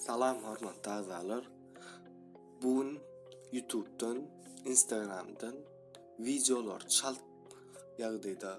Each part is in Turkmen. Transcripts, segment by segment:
Salam hormatly agzalar. Bu gün YouTube'dan, Instagram'dan videolar çalt ýagdaýda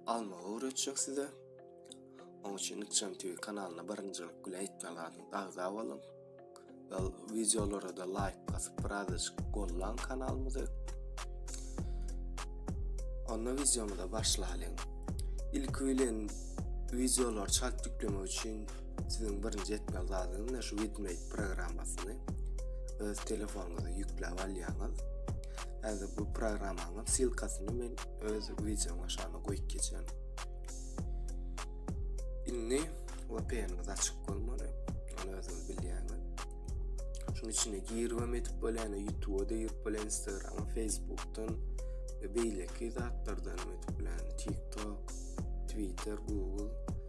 almagy öwretjek size. Onuň üçin Nikçan TV kanalyna birinjilik bilen etmek lazym. Agza boluň. Ve videolara da like basyp birazajyk gollan kanalymyzy. Onda videomuza başlaýlyň. Ilki bilen videolar çalt ýüklemek üçin Siziň birinji etmeli zadyňyz ne şu Widmate programmasyny öz telefonuňyza ýükläp alýaňyz. Häzir bu programmanyň silkasyny men öz wideoň aşagyna goýup geçen. Indi VPN-iňiz açyk bolmaly. Ony özüňiz bilýäňiz. Şunuň üçin girmem etip bolýan, YouTube-a da girip bolýan, Instagram-a, Facebook-dan we beýleki zatlardan etip bolýan, TikTok, Twitter, Google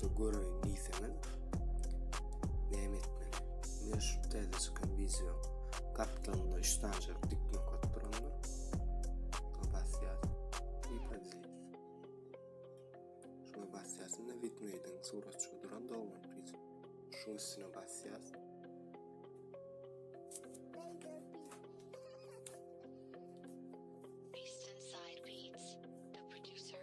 Dur göreýin diýseňiz. Näme etmeli? Men şu täze çykan wideo gapdalynda 3 sanyjak dik nokat durandyr. Şuna basýar. Bir pozisiýa. Şuna basýarsyň da widmeýdiň suratçy duran dogry diýip. Şu üstüne basýar. Beast Inside Beats, the producer.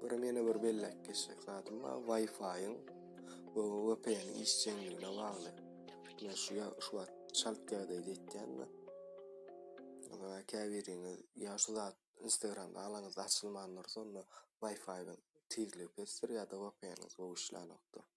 Görüm ýene bir belläp geçjek zadym bar. Wi-Fi-iň bu VPN işjeňligine bagly. Men şu ya şu wagt çalt ýagdaýda etýänmi? Onda käbiriňiz ýa şu zat Instagramda alaňyzda açylman dursa, onda Wi-Fi-iň tizligi pesdir ýa-da VPN-iňiz gowy işlänokdur.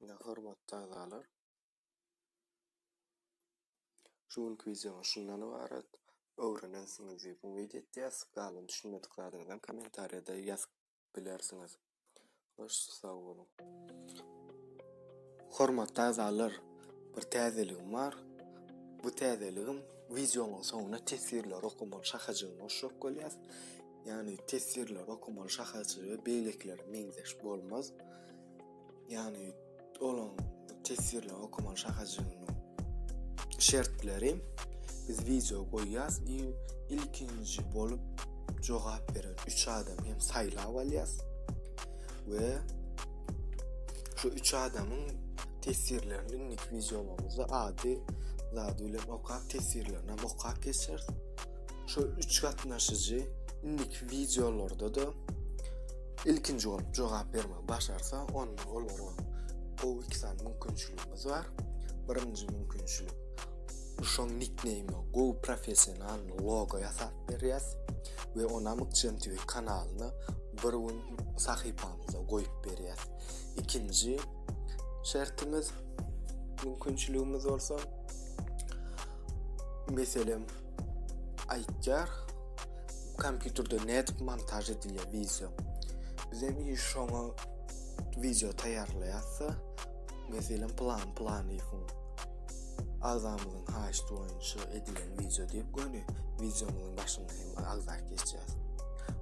Ine hormatly agzalar. Şu günki wideomyz şundan ybarat. Öwrenensiňiz diýip umyt edýäs. Galan düşünmedik zadyňyzam kommentariýada ýazyp bilersiňiz. Baş sag boluň! Hormatly agzalar, bir täzeligim bar. Bu täzeligim wideonyň soňuna teswirleri okamaly şahajygyny goşjak bolýas. Ýagny teswirleri okamaly şahajygy beýlekilere meňzeş bolmaz. Ýagny olaň teswirli okumaly şahajygynyň şertleri biz wideo goýýas i ilkinji bolup jogap beren 3 adam hem saýlap alýas we şu 3 adamyň teswirlerini indik wideomyzda ady zady bilen okap teswirlerini okap geçeris şu 3 gatnaşyjy indik wideolarda da Ilkinji bolup jogap bermegi başarsa, onda olara gowy iki sany mümkinçiligimiz bar. Birinji mümkinçilik şoň nikneýme gowy professional logo ýasap berýäs we ona Mykjan TV kanalyny bir gün sahypamyza goýup berýäs. Ikinji şertimiz mümkinçiligimiz bolsa meselem aýtýar kompýuterde nädip montaž edilýär wideo biz hem şoňa wideo taýýarlaýarsa meselem plan planyýewiň agzamyzyň haýyşty boýunça edilen wideo diýip göni wideomyzyň başynda hem agzap geçýär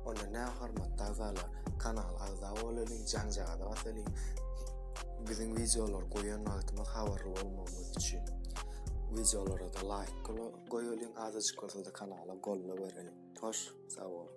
onda ne hormatly agzalar kanala agza bolalyň jaňjaga basalyň biziň wideolar goýan wagtymyz habarly bolmagyňyz üçin Wideolara-da laýk goýalyň azajyk bolsa-da kanala golla bereliň. Hoş sag boluň.